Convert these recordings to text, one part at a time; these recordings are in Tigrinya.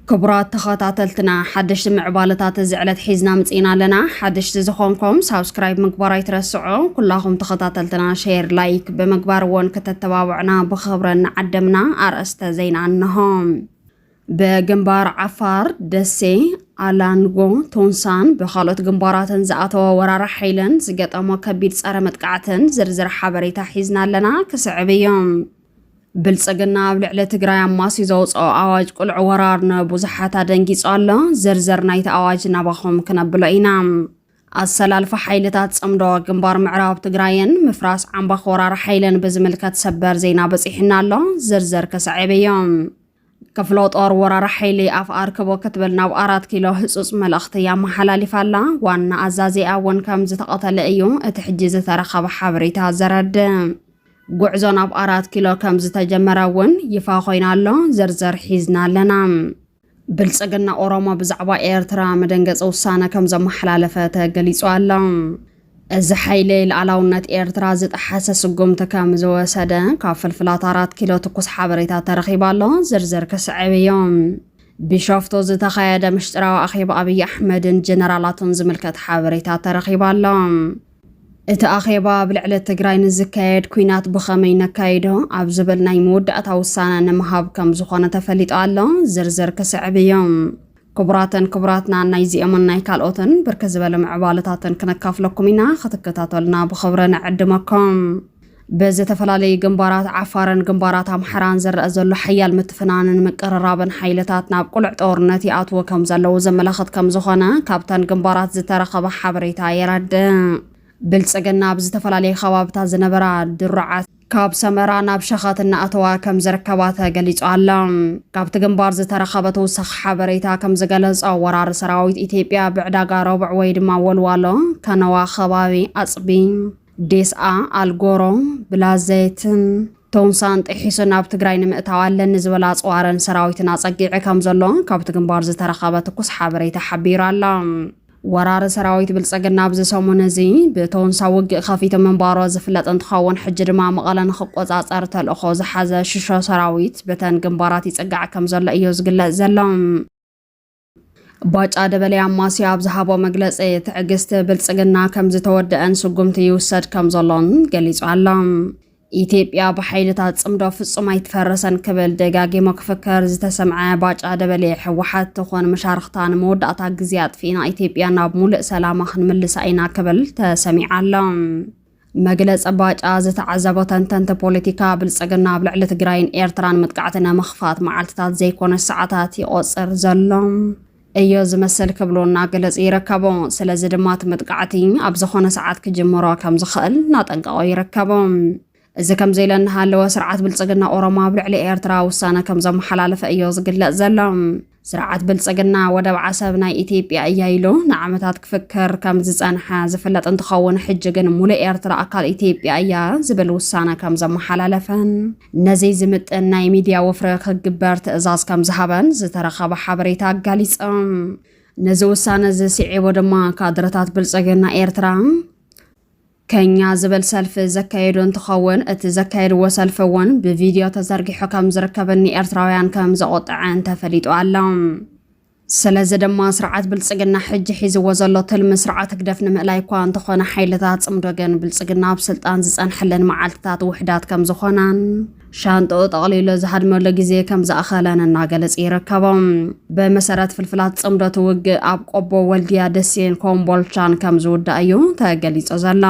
ክቡራት ተኸታተልትና ሓደሽቲ ምዕባለታት እዚ ዕለት ሒዝና ምፅኢና ኣለና ሓደሽቲ ዝኾንኩም ሳብስክራይብ ምግባር ኣይትረስዑ ኩላኹም ተኸታተልትና ሸር ላይክ ብምግባር እውን ክተተባብዕና ብኽብረን ዓደምና ኣርእስተ ዜና እንሆ ብግንባር ዓፋር፣ ደሴ፣ ኣላንጎ፣ ቶንሳን ብካልኦት ግንባራትን ዝኣተወ ወራሪ ሓይልን ዝገጠሞ ከቢድ ጸረ መጥቃዕትን ዝርዝር ሓበሬታ ሒዝና ኣለና ክስዕብ እዮም። ብልጽግና ኣብ ልዕሊ ትግራይ ኣማስዩ ዘውፅኦ ኣዋጅ ቁልዕ ወራር ንብዙሓት ኣደንጊጹ ኣሎ። ዝርዝር ናይቲ ኣዋጅ ናባኹም ክነብሎ ኢና። ኣሰላልፋ ሓይልታት ጽምዶ ግንባር ምዕራብ ትግራይን ምፍራስ ዓምባኽ ወራር ሓይልን ብዝምልከት ሰበር ዜና በፂሑና ኣሎ። ዝርዝር ክስዕብ እዮም። ክፍለ ጦር ወራር ሓይሊ ኣፍ ኣርክቦ ክትብል ናብ ኣራት ኪሎ ህፁፅ መልእኽቲ ኣመሓላሊፋ ኣላ። ዋና ኣዛዚኣ እውን ከም ዝተቐተለ እዩ እቲ ሕጂ ዝተረኸበ ሓበሬታ ዘረድእ። ጉዕዞ ናብ ኣራት ኪሎ ከም ዝተጀመረ እውን ይፋ ኮይና ኣሎ ዝርዝር ሒዝና ኣለና ብልፅግና ኦሮሞ ብዛዕባ ኤርትራ መደንገፂ ውሳነ ከም ዘመሓላለፈ ተገሊፁ ኣሎ እዚ ሓይሊ ልኣላውነት ኤርትራ ዝጠሓሰ ስጉምቲ ከም ዝወሰደ ካብ ፍልፍላት ኣራት ኪሎ ትኩስ ሓበሬታ ተረኺቡ ኣሎ። ዝርዝር ክስዕብ እዮ። ቢሾፍቱ ዝተኻየደ ምሽጥራዊ ኣኼባ ኣብዪ ኣሕመድን ጀነራላቱን ዝምልከት ሓበሬታ ተረኺቡ ኣሎ። እቲ ኣኼባ ኣብ ልዕሊ ትግራይ ንዝካየድ ኩናት ብኸመይ ነካይዶ ኣብ ዝብል ናይ መወዳእታ ውሳነ ንምሃብ ከም ዝኾነ ተፈሊጡ ኣሎ። ዝርዝር ክስዕብ እዮ። ክቡራትን ክቡራትናን ናይዚኦምን ናይ ካልኦትን ብርክት ዝበለ ምዕባለታትን ክነካፍለኩም ኢና ክትከታተሉና ብኽብሪ ንዕድመኩም። ብዝተፈላለዩ ግንባራት ዓፋርን ግንባራት ኣምሓራን ዝረአ ዘሎ ሓያል ምትፍናንን ምቅርራብን ሓይልታት ናብ ቁልዕ ጦርነት ይኣትዎ ከም ዘለዉ ዘመላኽት ከም ዝኾነ ካብተን ግንባራት ዝተረኸበ ሓበሬታ የረድእ። ብልጽግና ኣብ ዝተፈላለዩ ከባብታት ዝነበራ ድሩዓት ካብ ሰመራ ናብ ሸኸት እናኣተዋ ከም ዝርከባ ተገሊጹ ኣሎ። ካብቲ ግንባር ዝተረኸበ ተወሳኺ ሓበሬታ ከም ዝገለጾ ወራሪ ሰራዊት ኢትዮጵያ ብዕዳጋ ረቡዕ ወይ ድማ ወልዋሎ፣ ከነዋ ከባቢ ኣጽቢ፣ ዴስኣ፣ ኣልጎሮ፣ ብላዘይትን ቶንሳን ጥሒሱ ናብ ትግራይ ንምእታው ኣለኒ ዝበላ ኣጽዋርን ሰራዊትን ኣጸጊዐ ከም ዘሎ ካብቲ ግንባር ዝተረኸበ ትኩስ ሓበሬታ ሓቢሩ ኣሎ። ወራሪ ሰራዊት ብልፅግና ኣብዚ ሰሙን እዚ ብተወንሳ ውግእ ከፊቱ ምንባሮ ዝፍለጥ እንትኸውን ሕጂ ድማ መቐለ ንክቆፃፀር ተልእኾ ዝሓዘ ሽሾ ሰራዊት በተን ግንባራት ይፅጋዕ ከም ዘሎ እዮ ዝግለፅ ዘሎ። ባጫ ደበሌ ኣማስያ ኣብ ዝሃቦ መግለፂ ትዕግስቲ ብልፅግና ከም ዝተወደአን ስጉምቲ ይውሰድ ከም ዘሎን ገሊጹ ኣሎ። ኢትዮጵያ ብሓይልታት ፅምዶ ፍፁም ኣይትፈርስን ክብል ደጋጊሙ ክፍከር ዝተሰምዐ ባጫ ደበሌ ህወሓት ትኹን መሻርኽታ ንመወዳእታ ግዜ ኣጥፊእና ኢትዮጵያ ናብ ሙሉእ ሰላማ ክንምልሳ ኢና ክብል ተሰሚዓ ኣሎ። መግለፂ ባጫ ዝተዓዘቦ ተንተንቲ ፖለቲካ ብልፅግና ኣብ ልዕሊ ትግራይን ኤርትራን መጥቃዕቲ ንምኽፋት መዓልትታት ዘይኮነስ ሰዓታት ይቖፅር ዘሎ እዮ ዝመስል ክብሉ እና ገለጹ ይረከቡ። ስለዚ ድማ እቲ መጥቃዕቲ ኣብ ዝኾነ ሰዓት ክጅምሮ ከም ዝኸእል እናጠንቀቆ ይረከቡ። እዚ ከምዚ ኢለ እናሃለወ ስርዓት ብልጽግና ኦሮሞ ኣብ ልዕሊ ኤርትራ ውሳነ ከም ዘመሓላለፈ እዮ ዝግለጽ ዘሎ። ስርዓት ብልጽግና ወደብ ዓሰብ ናይ ኢትዮጵያ እያ ኢሉ ንዓመታት ክፍክር ከም ዝጸንሐ ዝፍለጥ እንትኸውን ሕጂ ግን ሙሉእ ኤርትራ ኣካል ኢትዮጵያ እያ ዝብል ውሳነ ከም ዘመሓላለፈን ነዚ ዝምጥን ናይ ሚድያ ወፍሪ ክግበር ትእዛዝ ከም ዝሃበን ዝተረኸበ ሓበሬታ ኣጋሊፆም። ነዚ ውሳነ እዚ ስዒቡ ድማ ካድረታት ብልፅግና ኤርትራ ከኛ ዝብል ሰልፊ ዘካየዱ እንትኸውን እቲ ዘካየድዎ ሰልፊ እውን ብቪድዮ ተዘርጊሑ ከም ዝርከብን ንኤርትራውያን ከም ዘቖጠዐን ተፈሊጡ ኣሎ። ስለዚ ድማ ስርዓት ብልፅግና ሕጂ ሒዝዎ ዘሎ ትልሚ ስርዓት ህግደፍ ንምእላይ እኳ እንተኾነ ሓይልታት ፅምዶ ግን ብልፅግና ኣብ ስልጣን ዝፀንሐለን መዓልትታት ውሕዳት ከምዝኾናን ሻንጥኡ ጠቕሊሉ ዝሃድመሉ ግዜ ከምዝኣኸለን እናገለፀ ይርከቦም። ብመሰረት ፍልፍላት ፅምዶ እቲ ውግእ ኣብ ቆቦ፣ ወልድያ፣ ደሴን ኮምቦልቻን ከምዝውዳእ እዩ ተገሊፁ ዘሎ።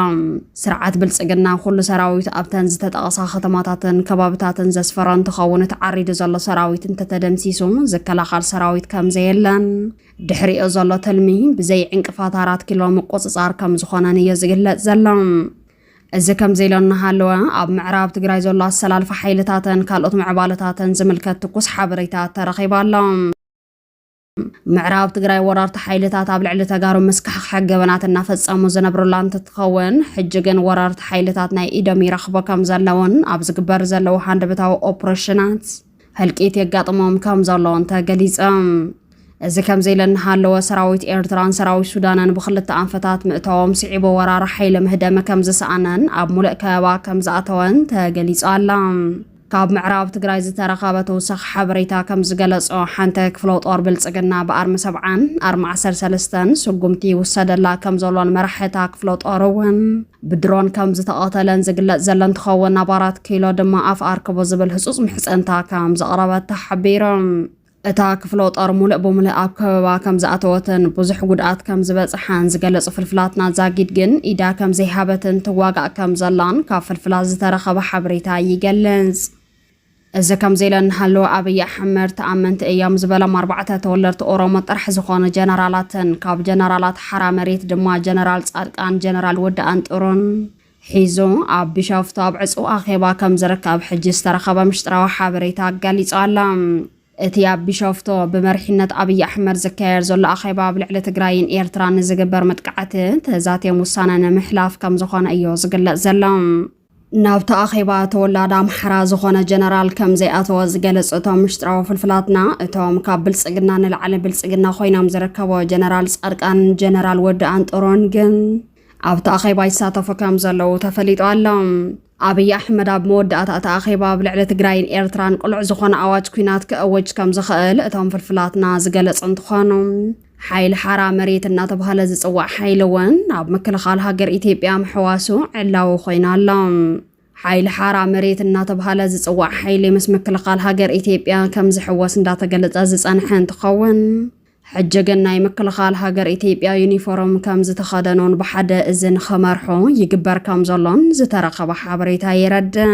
ስርዓት ብልፅግና ኩሉ ሰራዊቱ ኣብተን ዝተጠቐሳ ከተማታትን ከባብታትን ዘስፈረ እንትኸውን እቲ ዓሪዱ ዘሎ ሰራዊት እንተተደምሲሱ ዝከላኸል ሰራዊት ከምዘየለን ድሕሪኦ ዘሎ ትልሚ ብዘይ ዕንቅፋት ኣራት ኪሎ ምቁፅፃር ከምዝኾነን እዮ ዝግለፅ ዘሎ። እዚ ከምዚ ኢሎ እናሃለወ ኣብ ምዕራብ ትግራይ ዘሎ ኣሰላልፋ ሓይልታትን ካልኦት ምዕባለታትን ዝምልከት ትኩስ ሓበሬታ ተረኺቡ ኣሎ። ምዕራብ ትግራይ ወረርቲ ሓይልታት ኣብ ልዕሊ ተጋሩ መስካሕክሐ ገበናት እናፈፀሙ ዝነብሩላ እንትትኸውን ሕጂ ግን ወረርቲ ሓይልታት ናይ ኢዶም ይረኽቡ ከም ዘለውን ኣብ ዝግበር ዘለዉ ሃንደበታዊ ኦፕሬሽናት ህልቂት የጋጥሞም ከም ዘለውን ተገሊፆም። እዚ ከምዚ ኢለ እናሃለወ ሰራዊት ኤርትራን ሰራዊት ሱዳንን ብክልተ ኣንፈታት ምእታዎም ስዒቡ ወራሪ ሓይሊ ምህደመ ከም ዝሰኣነን ኣብ ሙሉእ ከበባ ከም ዝኣተወን ተገሊፁ ኣሎ። ካብ ምዕራብ ትግራይ ዝተረኸበ ተወሳኺ ሓበሬታ ከምዝገለፆ ሓንተ ክፍለ ጦር ብልፅግና ብኣርሚ ሰብዓን ኣርሚ ዓሰርተ ሰለስተን ስጉምቲ ይውሰደላ ከምዘሎን መራሒ እታ ክፍለ ጦር እውን ብድሮን ከምዝተቐተለን ዝግለፅ ዘሎ እንትኸውን ኣብ ኣራት ኪሎ ድማ ኣፍ ኣርክቡ ዝብል ህፁፅ ምሕፅንታ ከምዘቕረበት ተሓቢሩ። እታ ክፍለጦር ሙልእ ብሙልእ ኣብ ከበባ ከም ዝኣተወትን ብዙሕ ጉድኣት ከም ዝበጽሓን ዝገለጹ ፍልፍላትና ዛጊድ ግን ኢዳ ከም ዘይሃበትን ትዋጋእ ከም ዘላን ካብ ፍልፍላት ዝተረኸበ ሓበሬታ ይገልጽ። እዚ ከምዚ ኢለ እናሃለወ ኣብይ ኣሕመድ ተኣመንቲ እዮም ዝበሎም ኣርባዕተ ተወለድቲ ኦሮሞ ጥራሕ ዝኾኑ ጀነራላትን ካብ ጀነራላት ሓራ መሬት ድማ ጀነራል ጻድቃን፣ ጀነራል ወዲ ኣንጥሩን ሒዙ ኣብ ቢሾፍቱ ኣብ ዕጹው ኣኼባ ከም ዝርከብ ሕጂ ዝተረኸበ ምሽጥራዊ ሓበሬታ ገሊጹ ኣሎ። እቲ ኣብ ቢሾፍቱ ብመሪሕነት ኣብይ ኣሕመድ ዝካየድ ዘሎ ኣኼባ ኣብ ልዕሊ ትግራይን ኤርትራን ንዝግበር መጥቃዕቲ ተዛትዮም ውሳነ ንምሕላፍ ከም ዝኾነ እዩ ዝግለጽ ዘሎ። ናብቲ ኣኼባ ተወላድ ኣምሓራ ዝኾነ ጀነራል ከም ዘይኣተወ ዝገለጹ እቶም ምሽጥራዊ ፍልፍላትና እቶም ካብ ብልጽግና ንላዕሊ ብልጽግና ኮይኖም ዝርከቦ ጀነራል ጻድቃንን ጀነራል ወዲ ኣንጦሮን ግን ኣብቲ ኣኼባ ይሳተፉ ከም ዘለዉ ተፈሊጡ ኣሎ። ኣብይ ኣሕመድ ኣብ መወዳእታ እቲ ኣኼባ ኣብ ልዕሊ ትግራይን ኤርትራን ቅሉዕ ዝኾነ ኣዋጅ ኩናት ክእውጅ ከም ዝኽእል እቶም ፍልፍላትና ዝገለጹ እንትኾኑ ሓይሊ ሓራ መሬት እናተባህለ ዝፅዋዕ ሓይሊ እውን ኣብ ምክልኻል ሃገር ኢትዮጵያ ምሕዋሱ ዕላዊ ኮይኑ ኣሎ። ሓይሊ ሓራ መሬት እናተባህለ ዝፅዋዕ ሓይሊ ምስ ምክልኻል ሃገር ኢትዮጵያ ከም ዝሕወስ እንዳተገለፀ ዝፀንሐ እንትኸውን ሕጂ ግን ናይ ምክልኻል ሃገር ኢትዮጵያ ዩኒፎርም ከም ዝተኸደኑን ብሓደ እዚ ንኸመርሑ ይግበር ከም ዘሎን ዝተረኸበ ሓበሬታ የረድእ።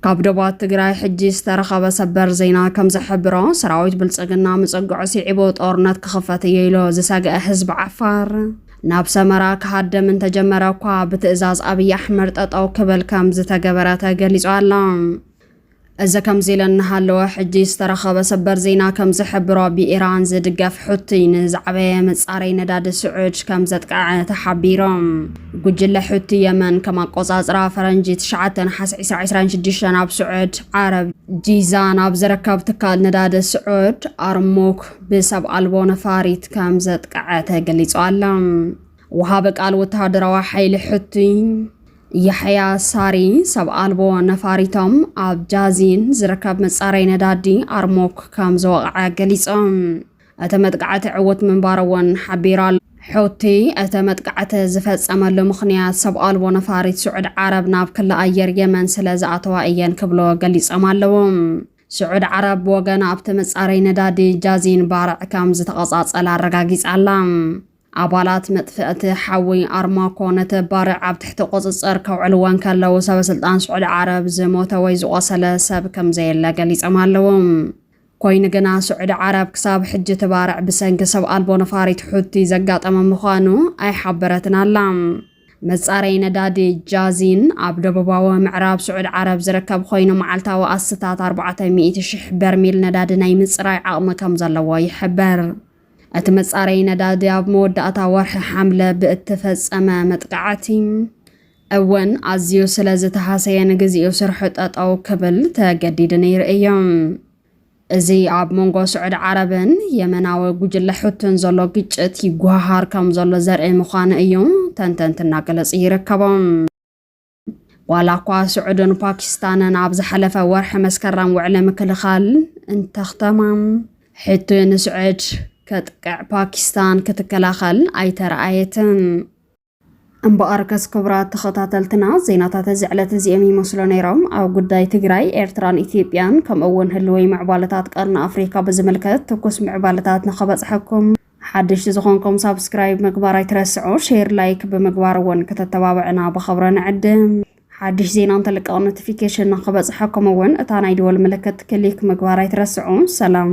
ካብ ዶባት ትግራይ ሕጂ ዝተረኸበ ሰበር ዜና ከም ዝሕብሮ ሰራዊት ብልፅግና ምፅግዑ ስዒቡ ጦርነት ክኽፈት እዮ ኢሎ ዝሰግአ ህዝቢ ዓፋር ናብ ሰመራ ክሃደም እንተጀመረ እኳ ብትእዛዝ ኣብዪ ኣሕመድ ጠጠው ክብል ከም ዝተገበረ ተገሊጹ ኣሎ። እዚ ከምዚ ኢለ እናሃለወ ሕጂ ዝተረኸበ ሰበር ዜና ከም ዝሕብሮ ብኢራን ዝድገፍ ሑቲ ንዝዓበየ መጻረይ ነዳዲ ስዑድ ከም ዘጥቅዐ ተሓቢሮም ጉጅለ ሑቲ የመን ከም ኣቆጻጽራ ፈረንጂ 9 ነሓስ 2026 ኣብ ስዑድ ዓረብ ጂዛን ኣብ ዝርከብ ትካል ነዳዲ ስዑድ ኣርሙክ ብሰብ ኣልቦ ነፋሪት ከም ዘጥቅዐ ተገሊጹ ኣሎ ወሃቢ ቃል ወተሃደራዊ ሓይሊ ሑቲ ያሕያ ሳሪ፣ ሰብ ኣልቦ ነፋሪቶም ኣብ ጃዚን ዝርከብ መጻረይ ነዳዲ ኣርሞክ ከም ዝወቕዐ ገሊጾም። እቲ መጥቃዕቲ ዕውት ምንባሩ እውን ሓቢሩ ኣሎ። ሑቲ እቲ መጥቃዕቲ ዝፈጸመሉ ምኽንያት ሰብ ኣልቦ ነፋሪት ስዑድ ዓረብ ናብ ክሊ ኣየር የመን ስለ ዝኣተዋ እየን ክብሎ ገሊጾም ኣለዉ። ስዑድ ዓረብ ብወገና ኣብቲ መጻረይ ነዳዲ ጃዚን ባርዕ ከም ዝተቐጻጸለ ኣረጋጊጻ ኣላ። ኣባላት መጥፍእቲ ሓዊ ኣርማኮ ነቲ ባርዕ ኣብ ትሕቲ ቁጽጽር ከውዕልዎ እንከለዉ ሰበ ስልጣን ስዑዲ ዓረብ ዝሞተ ወይ ዝቖሰለ ሰብ ከምዘየለ ገሊጾም ኣለዉ። ኮይኑ ግና ስዑዲ ዓረብ ክሳብ ሕጂ እቲ ባርዕ ብሰንኪ ሰብ ኣልቦ ነፋሪት ሑቲ ዘጋጠመ ምዃኑ ኣይሓበረትን ኣላ። መጻረይ ነዳዲ ጃዚን ኣብ ደቡባዊ ምዕራብ ስዑዲ ዓረብ ዝርከብ ኮይኑ መዓልታዊ ኣስታት ኣርባዕተ ሚእቲ ሽሕ በርሚል ነዳዲ ናይ ምጽራይ ዓቕሚ ከም ዘለዎ ይሕበር። እቲ መጻረዪ ነዳዲ ኣብ መወዳእታ ወርሒ ሓምለ ብእተፈጸመ መጥቃዕቲ እውን ኣዝዩ ስለ ዝተሃሰየ ንግዜኡ ስርሑ ጠጠው ክብል ተገዲዱ ነይሩ እዩ። እዚ ኣብ መንጎ ስዑድ ዓረብን የመናዊ ጉጅለ ሑትን ዘሎ ግጭት ይጓሃሃር ከም ዘሎ ዘርኢ ምዃኑ እዩ ተንተንቲ እናገለጹ ይርከቦም። ዋላ እኳ ስዑድን ፓኪስታንን ኣብ ዝሓለፈ ወርሒ መስከረም ውዕሊ ምክልኻል እንተኽተማ ሕቱ ንስዑድ ከጥቅዕ ፓኪስታን ክትከላኸል ኣይተረኣየትን። እምበኣር ከስ ክቡራት ተኸታተልትና ዜናታት እዚ ዕለት እዚኦም ይመስሉ ነይሮም ኣብ ጉዳይ ትግራይ ኤርትራን ኢትዮጵያን ከምኡ እውን ህልወይ ምዕባለታት ቀርኒ ኣፍሪካ ብዝምልከት ትኩስ ምዕባለታት ንኸበፅሐኩም ሓደሽቲ ዝኾንኩም ሳብስክራይብ ምግባር ኣይትረስዑ፣ ሼር ላይክ ብምግባር እውን ክተተባብዕና ብኽብሪ ንዕድም። ሓድሽ ዜና እንተልቀቕ ኖቲፊኬሽን ንኽበፅሐኩም እውን እታ ናይ ደወል ምልክት ክሊክ ምግባር ኣይትረስዑ። ሰላም።